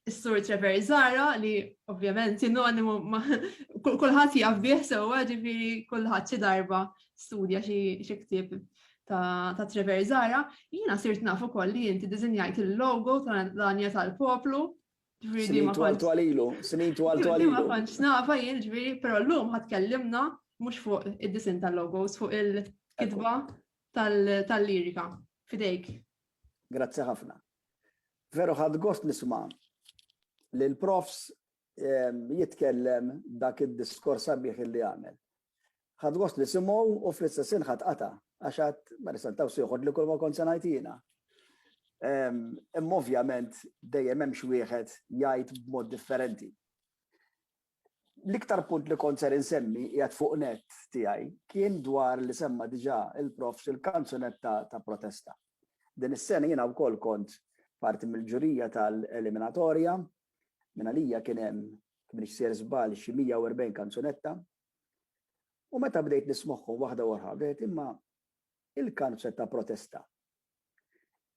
Is-sur Trevor Zara li ovvjament sinonimu ma kulħadd jaf bih sewwa ġifieri kulħadd xi darba studja xi ktieb ta' Trevor Zara, jiena sirt naf ukoll li inti diżinjajt il-logo ta' l-anja tal-poplu. Snin twal twalilu, snin twal twalilu. Ma kontx nafa jien ġifieri, però llum ħadd kellimna mhux fuq id-disin tal-logos, fuq il-kitba tal-lirika. Fidejk. Grazzi ħafna. Veru ħadd gost nisma' li l-profs ehm, jitkellem dak id-diskors sabiħ li għamel. Ħadd gost li simgħu u fl-istessin ħadd qata' għax għad ma nistantaw siħod li kull ma kont sanajtina. Ehm, imma ovvjament dejjem hemm xi wieħed jgħid b'mod differenti. L-iktar punt li kont ser insemmi qiegħed fuq nett tiegħi kien dwar li semma diġà il-Profs il-kanzunetta ta' protesta. Din is-sena jiena wkoll kont parti mill-ġurija tal-eliminatorja, minn għalija kien hemm, jekk m'iniex sejjer żball, xi 140 kanzunetta. U meta bdejt nismagħhom waħda wara l-oħra bdejt imma il-kanzunetta ta' protesta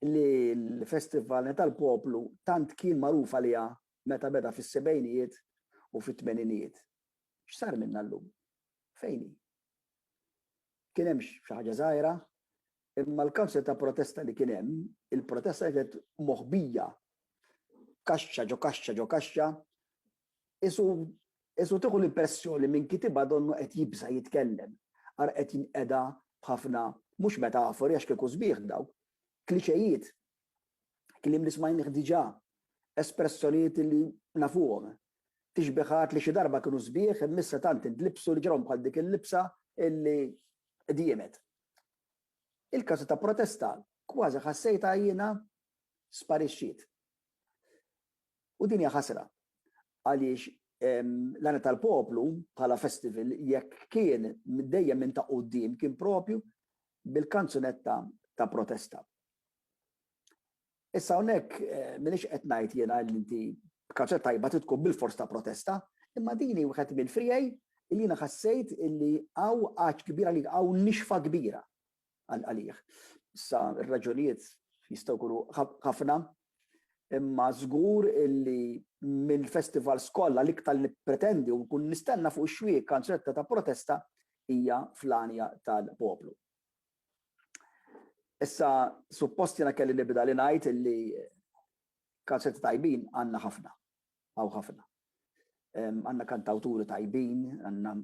li l-Festival tal-Poplu tant kien magħruf għaliha meta beda fis-sebgħinijiet u fit-tmeninijiet. X'sar minnha llum? Fejn hi? Kien hemm xi ħaġa żgħira, imma l-kawża ta' protesta li kien hemm, il-protesta kienet moħbija kaxxa ġo kaxxa ġo kaxxa, isu isu tieħu l-impressjoni minn kitibha donnu qed jibża' jitkellem, ara qed jinqeda b'ħafna mhux metafori għax kieku sbieħ dawk, kliċejiet Kliem li smajnih diġà, espressjonijiet li nafuhom. Tixbihat li xi darba kienu sbieħ imma issa tant indlibsu li ġrahom bħal dik il-libsa li diemet. Il-każi ta' protesta kważi ħassejtha jiena sparixxiet. U din hija ħasra għaliex l-Għana tal-Poplu bħala festival jekk kien dejjem minn ta' quddiem kien proprju bil-kanzunetta ta' protesta. Issa hawnhekk m'iniex qed ngħid jiena li inti b'kaċċa tajba trid tkun bilfors ta' protesta, imma din hi wieħed mill-friegħi li jiena ħassejt li hawn għaġġ kbir għalik, hawn nixfa kbira għalik. Issa r-raġunijiet jistgħu jkunu ħafna, imma żgur li mill-festivals kollha l-iktar li nippretendi u nkun nistenna fuq ix-xwieqa kanzunetta ta' protesta hija Fl-Għanja tal-Poplu. Issa suppost jiena kelli nibda li ngħid illi kanzunetta tajbin għandna ħafna, hawn ħafna. Għandna kantawturi tajbin, għandna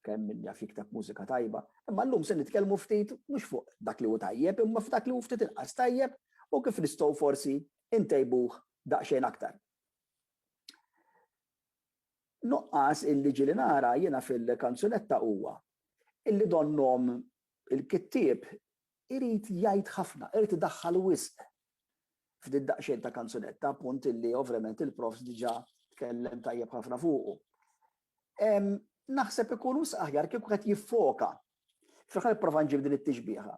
kemm min jaf jikteb mużika tajba, imma llum se nitkellmu ftit mhux fuq dak li hu tajjeb, imma f'dak li hu ftit inqas tajjeb u kif nistgħu forsi ntejbuh daqsxejn aktar. Nuqqas illi ġieli nara jiena fil-kanzunetta huwa illi donnhom il-kittieb irid jgħid ħafna, irid idaħħal wisq f'did-daqsxejn ta' kanzunetta, punt illi ovvjament il-Profs diġà tkellem tajjeb ħafna fuqu. Naħseb ikun wisq aħjar kieku wieħed jiffoka, fih ħa nipprova nġib din it-tixbieha,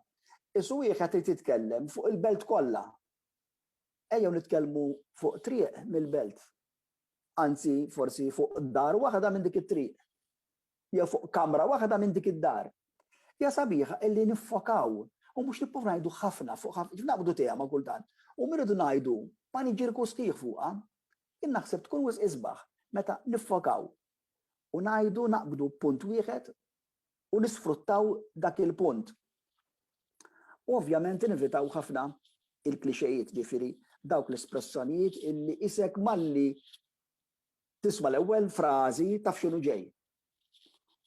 is wieħed irid jitkellem fuq il-belt kollha. Ejjew nitkellmu fuq triq mill-belt. anzi forsi fuq dar waħda minn dik it-triq, jew fuq kamra waħda minn dik id-dar. Hija sabiħa illi niffokaw u mhux nibqgħu ngħidu ħafna fuq ħafna, kif naqbdu tema kultant, u min irridu ngħidu paniġirku sħiħ fuqha, jien naħseb tkun wisq isbaħ meta niffokaw u ngħidu naqbdu punt wieħed u nisfruttaw dak il-punt. U ovvjament inevitaw ħafna il-klixejiet, ġifieri dawk l-espressjonijiet illi qisek malli tisma' l-ewwel frażi taf x'inhu ġej.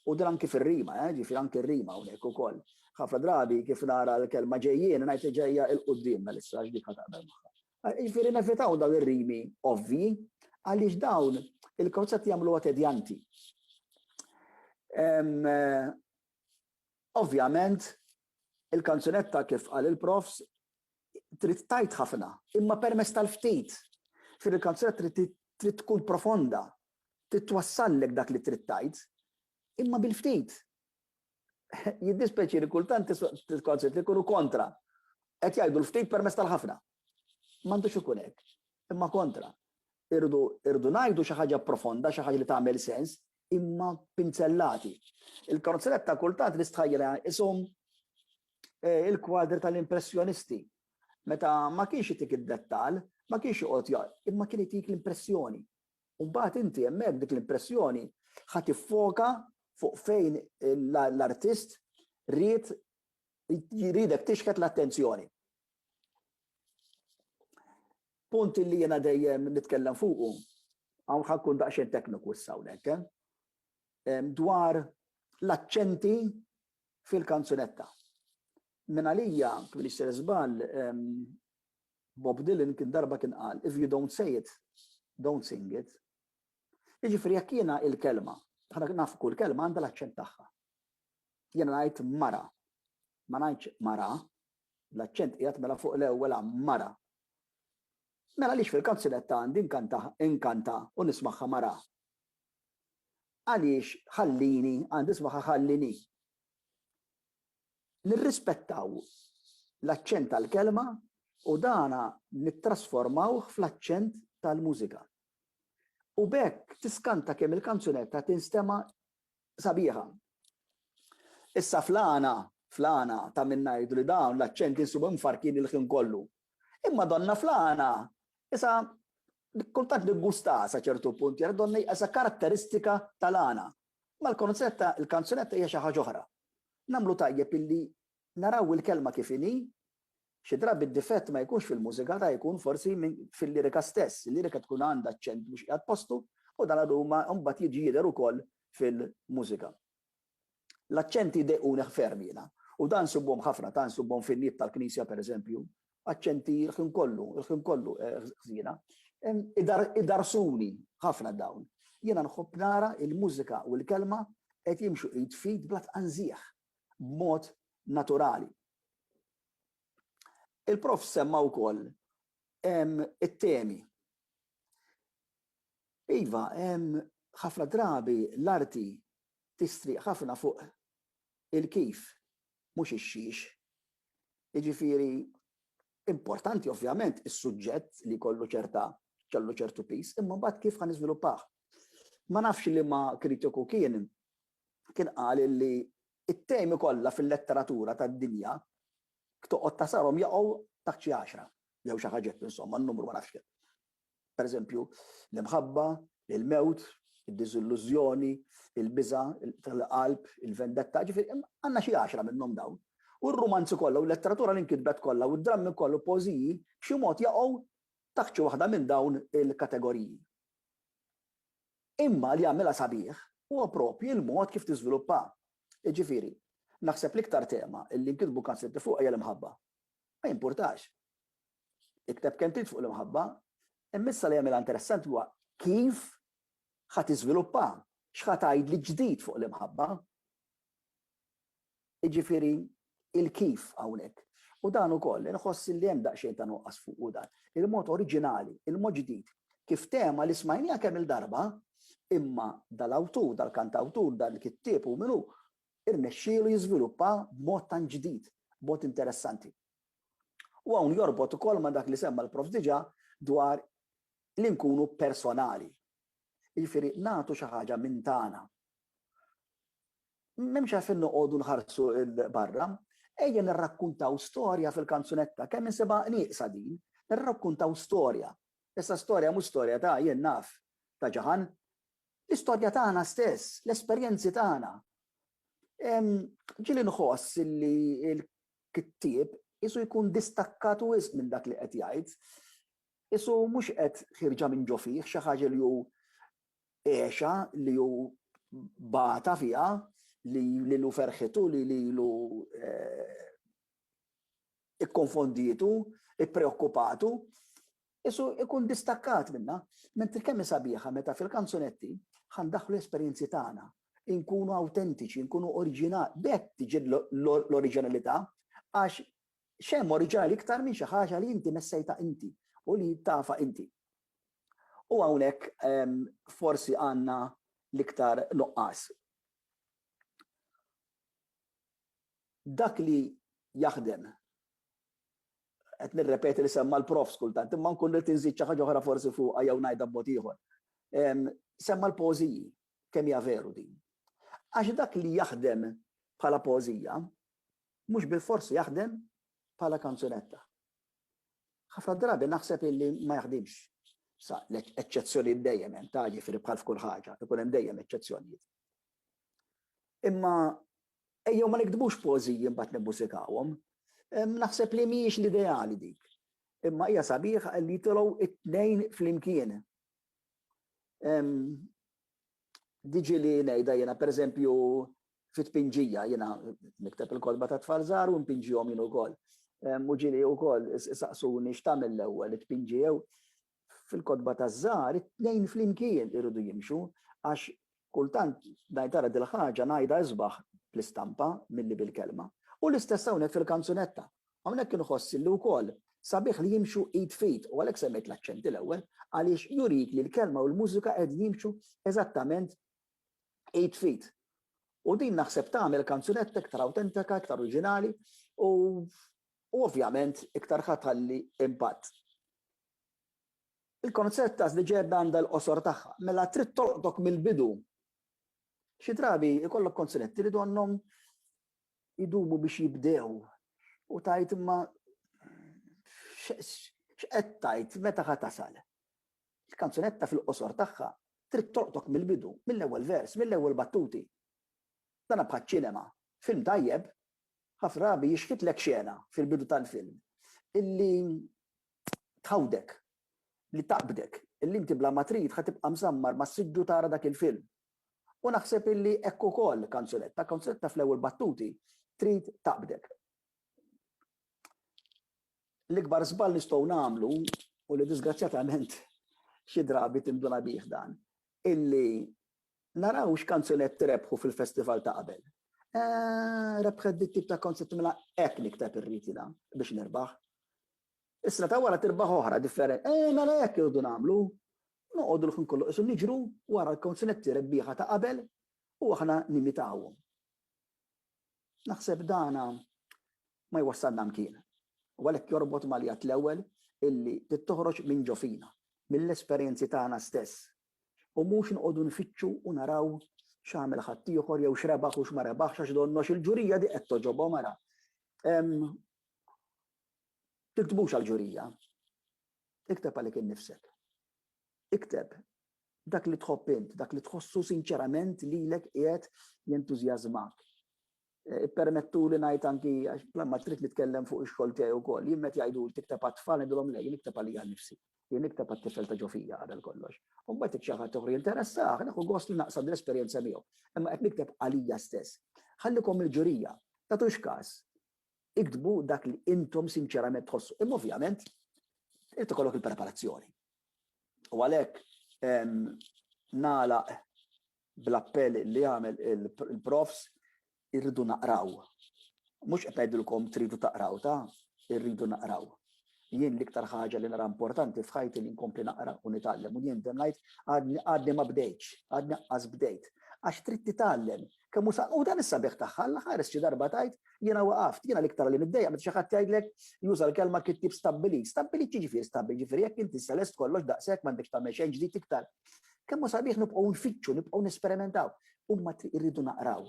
U din anki fir-rima, eh, ġifieri anki r-rima hawnhekk ukoll. Ħafna drabi kif nara l-kelma ġejjien ngħid ġejja il-quddiem Melissa għax dik ħa taqbel magħha. Jiġifieri nevitaw dawn ir-rimi ovvji għaliex dawn il-konzett jagħmluha tedjanti. Ovvjament, il-kanzunetta kif qal il-profs trid tajt ħafna, imma permess tal-ftit. Fir il-kanzunetta trid tkun profonda, trid twassallek dak li trid tajt, imma bil-ftit. Jiddispeċi li kultant t-konċett li kunu kontra. Qed jgħidu l-ftit permess tal-ħafna. M'għandux ikun hekk. Imma kontra. Irdu irdu ngħidu xi ħaġa profonda, xi ħaġa li tagħmel sens, imma pinzellati. Il-konzett ta' kultant li stħajjela isum eh, il-kwadri tal-impressjonisti. Meta ma kienx itik id-dettal, ma kienx joqgħod imma kien itik l-impressjoni. u mbagħad inti hemmhekk dik l-impressjoni ħa tiffoka fuq fejn l-artist ried jridek tixħet l-attenzjoni. Punt li jiena dejjem nitkellem fuqu, hawn ħakkun daqsxejn tekniku issa hawnhekk, eh? dwar l-aċċenti fil-kanzunetta. Minn għalija, kif li s-sir żball, Bob Dylan kien darba kien qal, If you don't say it, don't sing it. Jiġifieri jekk jiena il-kelma, aħna nafu kull kelma għandha l-aċċent tagħha. Jiena ngħid mara, ma ngħidx mara, l-aċċent qiegħed mela fuq l-ewwel għam mara. Mela għaliex fil-kanzunetta għandi nkanta, inkanta u nismaħħa mara. Għaliex ħallini għandi nismaħħa ħallini. nirrispettaw l-aċċent tal-kelma u dan nittrasformawh fl-aċċent tal-mużika. U b'hekk tiskanta kemm il-kanzunetta tinstema' sabiħa. Issa fl-għana, fl-għana ta' min ngħidu li dawn l-aċċenti nsibuhom mfarrkin il-ħin kollu. Imma donnha fl-għana isa kultant niggustaha sa ċertu punt, jara donnha hija sa karatteristika tal-għana, Mal-konzett ta' l-kanzunetta hija xi ħaġa oħra. Nagħmlu tajjeb illi naraw il-kelma kif inhi, xi drabi d-difett ma jkunx fil-mużika ta' jkun forsi fil-lirika stess, il-lirika tkun għandha aċċent mhux qiegħed postu u dan għadu ma mbagħad jiġi jidher ukoll fil-mużika. L-aċċenti jdejquni ferm jiena u dan nsibuhom ħafna, ta' nsibuhom fin-niet tal-knisja pereżempju, aċċenti l-ħin kollu, l-ħin kollu ħżiena. Idarsuni ħafna dawn. Jiena nħobb nara l-mużika u l-kelma qed jimxu id f'id bla tqanżigħ, b'mod naturali. Il-Prof semma wkoll it-temi. Iva, ħafna drabi l-arti tistrieq ħafna fuq il-kif mhux ix-xiex. Jiġifieri importanti ovvjament is-suġġett li jkollu ċerta kellu ċertu piż, imma mbagħad kif ħa niżviluppah. Ma nafx liema kritiku kien kien qal li t-temi kollha fil-letteratura tad-dinja toqgħod tasarhom jaqgħu taħt xi għaxra jew xi ħaġa hekk insomma n-numru ma nafx kemm. Pereżempju, l-imħabba, il-mewt, id-diżillużjoni, il-biża' tal-qalb, il-vendetta, jiġifieri għandna xi għaxra minnhom dawn. U r-rumanzi kollha u l-letteratura li nkitbet kollha u d-drammi kollha u l-poeżiji b'xi mod jaqgħu taħt xi waħda minn dawn il-kategoriji. Imma li jagħmilha sabiħ huwa proprju l-mod kif tiżviluppa. Jiġifieri, naħseb l-iktar tema li nkitbu kanzunetta fuqha hija l-imħabba. Ma jimpurtax. Ikteb kemm trid fuq l-imħabba, imma issa li jagħmilha interessanti huwa kif ħa tiżviluppa, x'ħa tgħidli ġdid fuq l-imħabba. Jiġifieri il-kif hawnhekk. U dan ukoll inħoss li hemm daqsxejn ta' nuqqas fuqu dan. Il-mod oriġinali, il-mod ġdid, kif tema li smajniha kemm il-darba, imma dal-awtur, dal-kantawtur, dan il-kittieb u min hu, irnexxielu jiżviluppa b'mod tant ġdid, b'mod interessanti. U hawn jorbot ukoll ma' dak li semma l-Prof diġà dwar li nkunu personali. Jiġifieri nagħtu xi ħaġa minn tagħna. M'hemmx għalfejn noqogħdu nħarsu 'l barra. Ejja nirrakkuntaw storja fil-kanzunetta, kemm insibha nieqsa din, nirrakkuntaw storja. Issa storja mhux storja ta' jien naf, ta' Ġaħan. L-istorja tagħna stess, l-esperjenzi tagħna. Ġieli nħoss li kittieb qisu jkun distakkat wisq minn dak li qed jgħid. Qisu mhux qed ħierġa minn ġo fih, xi ħaġa li hu għexha, li hu bata fiha, li lilu ferħitu, li lilu ikkonfondietu, ippreokkupatu. Qisu jkun distakkat minnha. Mentri kemm hi sabiħa meta fil-kanzunetti ħa ndaħħlu l-esperjenzi tagħna, inkunu awtentiċi, nkunu oriġinali. B'hekk tiġi l-oriġinalità għax x'hemm oriġinali iktar minn xi ħaġa li inti messejtha inti u li tafha inti. U hawnhekk forsi għandna l-iktar nuqqas. Dak li jaħdem qed nirrepeti li semma l-Prof skultant, imma nkun ridt inżid xi ħaġa oħra forsi fuqha jew ngħidha b'mod ieħor. Semma l-poeżiji, kemm hija veru din. Għax dak li jaħdem bħala poeżija mhux bilfors jaħdem bħala kanzunetta. Ħafna drabi naħseb illi ma jaħdimx. Sa l-eċċezzjonijiet dejjem hemm ta' jiġifieri bħal f'kull ħaġa, ikun hemm dejjem eċċezzjonijiet. Imma ejjew ma niktbux poeżiji mbagħad nimmużikawhom. Naħseb li mhijiex l-ideali dik. Imma hija sabiħ li jitolgħu it-tnejn flimkien. Diġi li ngħidha jiena pereżempju fit pinġija jiena nikteb il-kodba ta' tfal żgħar u npinġihom jien ukoll. Muġili ukoll saqsuni x'tagħmel l-ewwel it-tpinġi jew fil-kotba taż-żgħar it-tnejn flimkien iridu jimxu għax kultant ngħid ara dil-ħaġa ngħidha isbaħ bl-istampa milli bil-kelma. U l-istess hawnhekk fil-kanzunetta. Hawnhekk inħoss illi wkoll sabiħ li jimxu id f'id u għalhekk semmejt l-aċċenti l-ewwel għaliex jurik li l-kelma u l-mużika qegħdin jimxu eżattament id f'id. U din naħseb tagħmel kanzunetta iktar awtentika, iktar oriġinali u u ovvjament iktar ħa tħalli impatt. Il-konzett ta' żliġeb għandha l-qosor tagħha, mela trid tolqtok mill-bidu. Xi drabi jkollok konziletti li donnhom idumu biex jibdew u tgħid imma x'qed tgħid, meta ħa tasal? Il-kanzunetta fil-qosor tagħha trid tolqtok mill-bidu, mill-ewwel vers, mill-ewwel battuti. Dan bħaċ-ċinema, film tajjeb ħafna drabi jixħitlek xena fil-bidu tal-film illi tgħawdek, li taqbdek, illi inti bla ma trid ħa tibqa' mżammar mas-siġġu tara dak il-film. U naħseb illi hekk ukoll kanzunetta, kanzunetta fl-ewwel battuti trid taqbdek. L-ikbar żball nistgħu nagħmlu u li diżgrazzjatament xi drabi tinduna bih dan, illi naraw x'kanzunetti rebħu fil-festival ta' qabel. Rebħet dit-tip ta' kanzunetta mela hekk nikteb irrid jiena biex nirbaħ. Is-sena ta' wara tirbaħ oħra differenti. Eh, mela hekk irridu nagħmlu. Noqogħdu l-ħin kollu qisu niġru wara l-konzinetti rebbieħa ta' qabel u aħna nimitawhom. Naħseb dana ma jwassalna mkien. U għalhekk jorbot mal-jgħat l-ewwel illi tittoħroġ minn ġo fina, mill-esperjenzi tagħna stess. U mhux nqogħdu nfittxu u naraw x'għamel ħaddieħor jew x'rebaħ u x'ma rebaħx għax donnox il-ġurija di qed toġobhom ara. Tiktbux għall-ġurija. Ikteb għalik innifsek. Ikteb dak li tħobb int, dak li tħossu sinċerament lilek qiegħed jentużjażmak. Eh, ippermettuli ngħid anki għax ma trid nitkellem fuq ix-xogħol tiegħi wkoll. Jien meta jgħidu tikteb għat-tfal ngħidulhom le, jien nikteb għalija nnifsi. Jien nikteb għat-tifel ta' ġofija qabel kollox. U mbagħad xi ħadd oħra jinteressah, naħu gost li naqsam l-esperjenza miegħu. Imma qed nikteb għalija stess. Ħallikom il-ġurija, tagħtux każ. Iktbu dak li intom sinċerament tħossu. Imma ovvjament irid ikollok il-preparazzjoni. U għalhekk nagħlaq bl-appell li għamel il-profs irridu naqraw. Mhux qed ngħidilkom tridu taqraw ta' irridu naqraw. Jien l-iktar ħaġa li nara importanti f'ħajti li nkompli naqra u nitgħallem u jien dem ngħid għadni ma bdejtx, għadni qqas bdejt. Għax trid titgħallem. Kemm hu u dan is-sabiħ tagħha l-ħares xi darba tgħid jiena waqaft, jiena l-iktar li niddejja meta xi ħadd jgħidlek juża l-kelma kittib stabbilit. Stabbilit jiġifieri stabbilit, jiġifieri jekk inti selest kollox daqshekk m'għandekx tagħmel xejn ġdid iktar. Kemm hu sabiħ nibqgħu nfittxu, nibqgħu nesperimentaw. Huma irridu naqraw.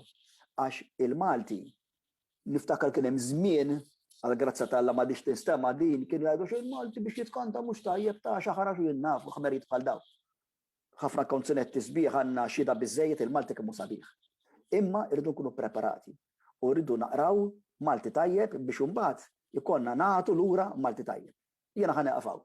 Għax il-Malti niftakar kien hemm żmien, għall-grazzja ta' Alla m'għadhiex tinstema' din, kienu jgħidu xejn Malti biex jitkanta mhux tajjeb ta' xi ħarax u jien naf ħmerijiet bħal dawn. Ħafna konzunetti sbieħ għandna xhieda biżżejjed il-Malti kemm hu sabiħ. Imma rridu nkunu ppreparati u rridu naqraw Malti tajjeb biex imbagħad ikollna nagħtu lura Malti tajjeb. Jiena ħa nieqaf hawn.